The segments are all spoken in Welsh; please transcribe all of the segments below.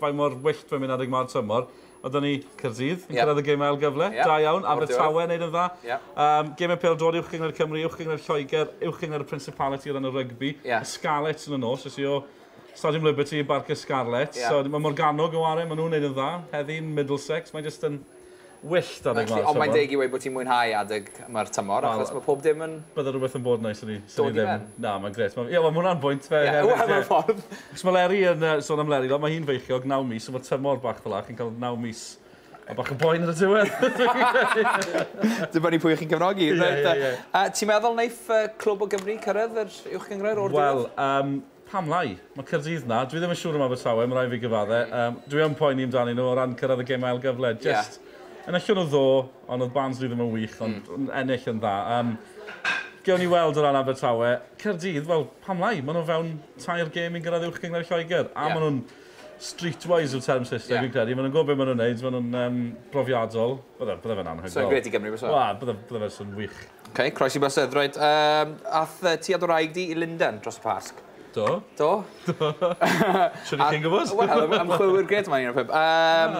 faint mor wyllt mae'n mynd adeg 'ma o'r tymor. A dyna ni, Caerdydd yn cyrraedd y gêm ail gyfle. Ie. Da iawn. Abertawe yn neud yn dda. Ie. Yym, geme pêl-droed Uwch Gyngor Cymru, Uwch Gyngor Lloegr, Uwch Gyngor y Principality o ran y rygbi. Ie. Y Scarlets yn y nos. Es i o Stadiwm Liberty i Barc y Scarlets. Ie. So, ma' Morgannwg yn ware, ma' nhw'n neud yn dda. Heddi'n Middlesex. Mae jyst yn Wyllt adeg 'ma o'r tymor. Ond mae'n deg i weud bod ti'n mwynhau adeg 'ma'r tymor achos ma' pob dim yn... Bydde rhywbeth yn bod yn neis o'n i. Dod i ben. Na, mae'n grêt. Ie, wel, ma' hwnna'n bwynt fair hefyd. Ie, wel, mewn ffordd. Achos ma' Leri yn, sôn am Leri, ma' hi'n feichiog, naw mis, so ma'r tymor bach fel 'a, chi'n ca'l naw mis a bach o boen ar y diwedd! Dibynnu pwy chi'n cefnogi. Reit 'te. Ti'n meddwl neith Clwb o Gymru cyrraedd yr Uwchgynghrair o'r diwedd? Wel, yym, Pam lai? Mae Caerdydd 'na. Dwi ddim yn siŵr am Abertawe, mae rhaid fi gyfadde. Yym, dwi yn poeni amdanyn nhw o ran cyrraedd y gem ail gyfle. Jyst, yn y llwrw ddo, ond oedd Barnsley ddim yn wych, ond yn ennill yn dda. Yym, gewn ni weld o ran Abertawe. Caerdydd, wel, pam lai? Maen nhw fewn tair gem i'n gyrraedd Uwch Gyngor Lloegr. A maen nhw'n streetwise yw'r term Saesneg, fi'n credu. Maen nhw'n gwybod beth maen nhw'n wneud, maen nhw'n brofiadol. Bydde, bydde fe'n anhygoel. Sa i'n gret i Gymru byse? Wel, bydde, bydde fe'n swn wych. OK, croesi bysedd, reit. Um, ath uh, ti a dy wraig di i Lundain dros y Pasg? Do. Do? Do. Siwr i chi'n gwybod? Wel, ymchwilwyr gred yma un o'r pub. Um,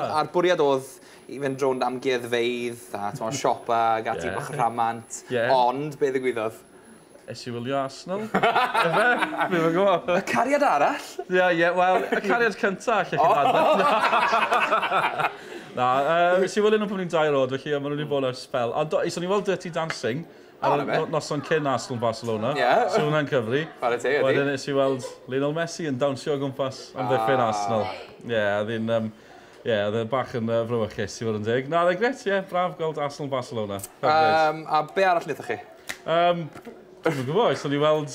ah. A'r bwriad oedd i fynd rownd amgueddfeidd a twa, siopa ac ati yeah. bach rhamant. Yeah. Ond, be ddigwyddodd? Es i wylio Arsenal. Efe? Fi fy gwybod. Y cariad arall? Ie, yeah, ie. Yeah, Wel, y cariad cyntaf, lle chi'n oh. Na, uh, si wylio nhw pan ni'n dair oed, felly maen nhw wedi bod ar spel. Ond so ni weld Dirty Dancing ar y oh, noson cyn Arsenal Barcelona. Yeah. So hwnna'n cyfri. Chwarae te, ydi. Wedyn nes i weld Lionel Messi yn dawnsio o gwmpas am ddechrau'n ah. Arsenal. Ie, yeah, oedd hi'n... Um, Ie, yeah, oedd e bach yn uh, frywychus, i fod yn deg. Na, oedd e gret, ie, yeah, braf gweld Arsenal Barcelona. Um, a be arall wnaethoch chi? Um, Dwi'n gwybod, oes, o'n i weld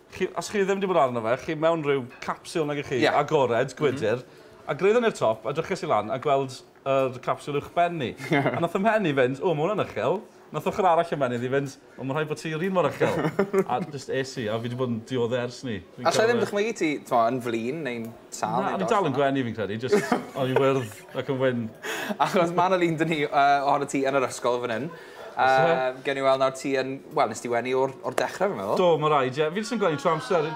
Chi, os chi ddim wedi bod arno fe, chi mewn rhyw capsiwl nag 'ych chi, yeah. agored, gwydr, mm -hmm. a gryddon ni'r top, a dryches i lan, a gweld yr uh, capsiwl uwch ben ni. a nath ymhen i fynd, o, mae hwnna'n uchel. Nath ochr arall ymhen i fynd, o, mae rhaid bod ti yr un mor uchel. a just es i, a fi wedi bod yn diodde ers ni. A lle ddim dychmygu ti, ti'n yn flin neu'n sal? Na, o'n i'n dal yn gwenu fi'n credu, just o'n i'n wyrdd ac yn wyn. Achos mae'n o lun dyn ni uh, ohono ti yn yr ysgol fan hyn. Yym, gewn ni weld nawr ti yn... Wel, nes ti wenu o'r o'r dechre fi'n meddwl. Do, ma' raid, ie. Fi jyst yn gwenu trwy amser.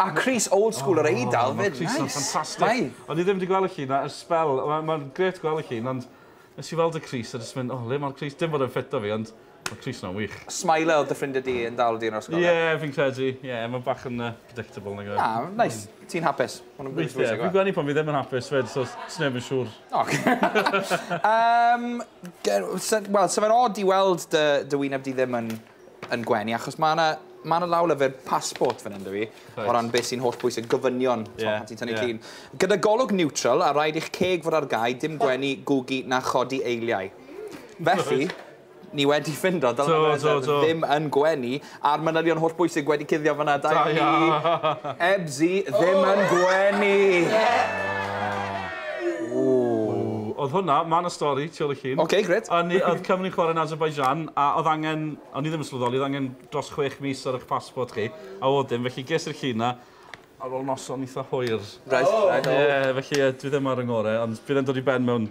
A crys old school yr Eidal 'fyd, neis! Ma'r crys yn ffantastic. Mae. O'n i ddim 'di gwel' y llun 'na ers sbel. Wel, ma'n grêt gwel' y llun, ond nes i weld y crys a jyst mynd, o, le ma'r crys? Dim bod e'n ffit 'da fi, ond Mae crys yna'n wych. Smile oedd dy ffrindiau di yn dal di yn yr ysgol? Ie, fi'n credu. Ie, mae bach yn predictable nag yw e? Na, nice. Ti'n hapus? Weithiau. Fi'n gwenu pan fi ddim yn hapus 'fyd, so sneb yn siŵr. Ocê. Yym, ger- sa- wel, sa fe'n od i weld dy dy wyneb di ddim yn yn gwenu, achos ma' 'na ma' 'na lawlyfr passport fan hyn 'da fi, o ran beth sy'n holl bwysig, gofynion, t'mo', pan ti'n tynnu llun. Gyda golwg niwtral, a rhaid i'ch ceg fod ar gau, dim gwenu, gwgu, na chodi eiliau. Felly, Ni wedi ffindo Dylan a Mereza ddim yn gwenu a'r manylion holl bwysig wedi cuddio fanna. Da iawn chi. Ebsi ddim yn gwenu! Oedd hwnna, mae yna stori tu ôl y llun. Ok, grêt. Oedd Cymru'n chwarae yn Azerbaijan a oedd angen, o'n i ddim yn sylweddoli, oedd angen dros chwech mis ar eich passport chi, a oedd dim, felly ges i'r llun 'na ar ôl noson eitha hwyr. Reit, reit. Ie, felly dwi ddim ar 'y ngore, ond bydd e'n dod i ben mewn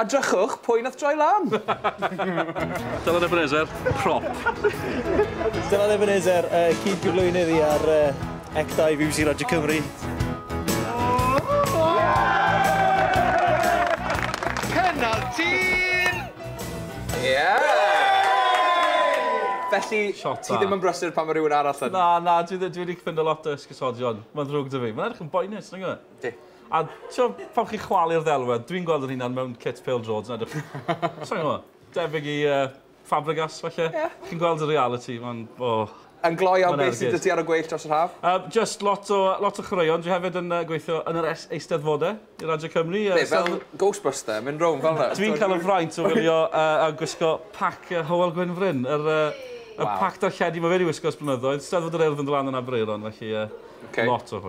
A drychwch, pwy nath droi lan? Dylan Ebenezer, prop. Dylan Ebenezer, uh, cyd gyflwynydd i ar uh, Ecta i BBC Radio Cymru. Penalty! Yeah! Felly, ti ddim yn brysur pan mae rhywun arall yn. Na, na, dwi, dwi wedi ffynd lot o ysgysodion. Mae'n ddrwg dy fi. Mae'n edrych yn boenus, nag yw e? Di. A t'mod, pan chi'n chwalu'r ddelwedd, dwi'n gweld 'yn hunan mewn cit pêl-droed yn edrych sai'n gwbo, debyg i yy Fabregas falle? Ie. Chi'n gweld y realiti, ma'n o. Yn gloi iawn beth sy 'dy ti ar y gweill dros yr haf? Yym jyst lot o lot o chwaraeon. Dwi hefyd yn yy gweithio yn yr es- eisteddfode i Radio Cymru yy Be' fel Ghostbuster mynd rownd fel 'na? Dwi'n ca'l y fraint o wylio yy a gwisgo pac yy Hywel Gwynfryn, yr yy y pac darlledu ma' fe 'di wisgo ers blynyddoedd, Steddfod yr Urdd yn do' lan yn Aberaeron felly yy... Oce. ...lot o hwyl.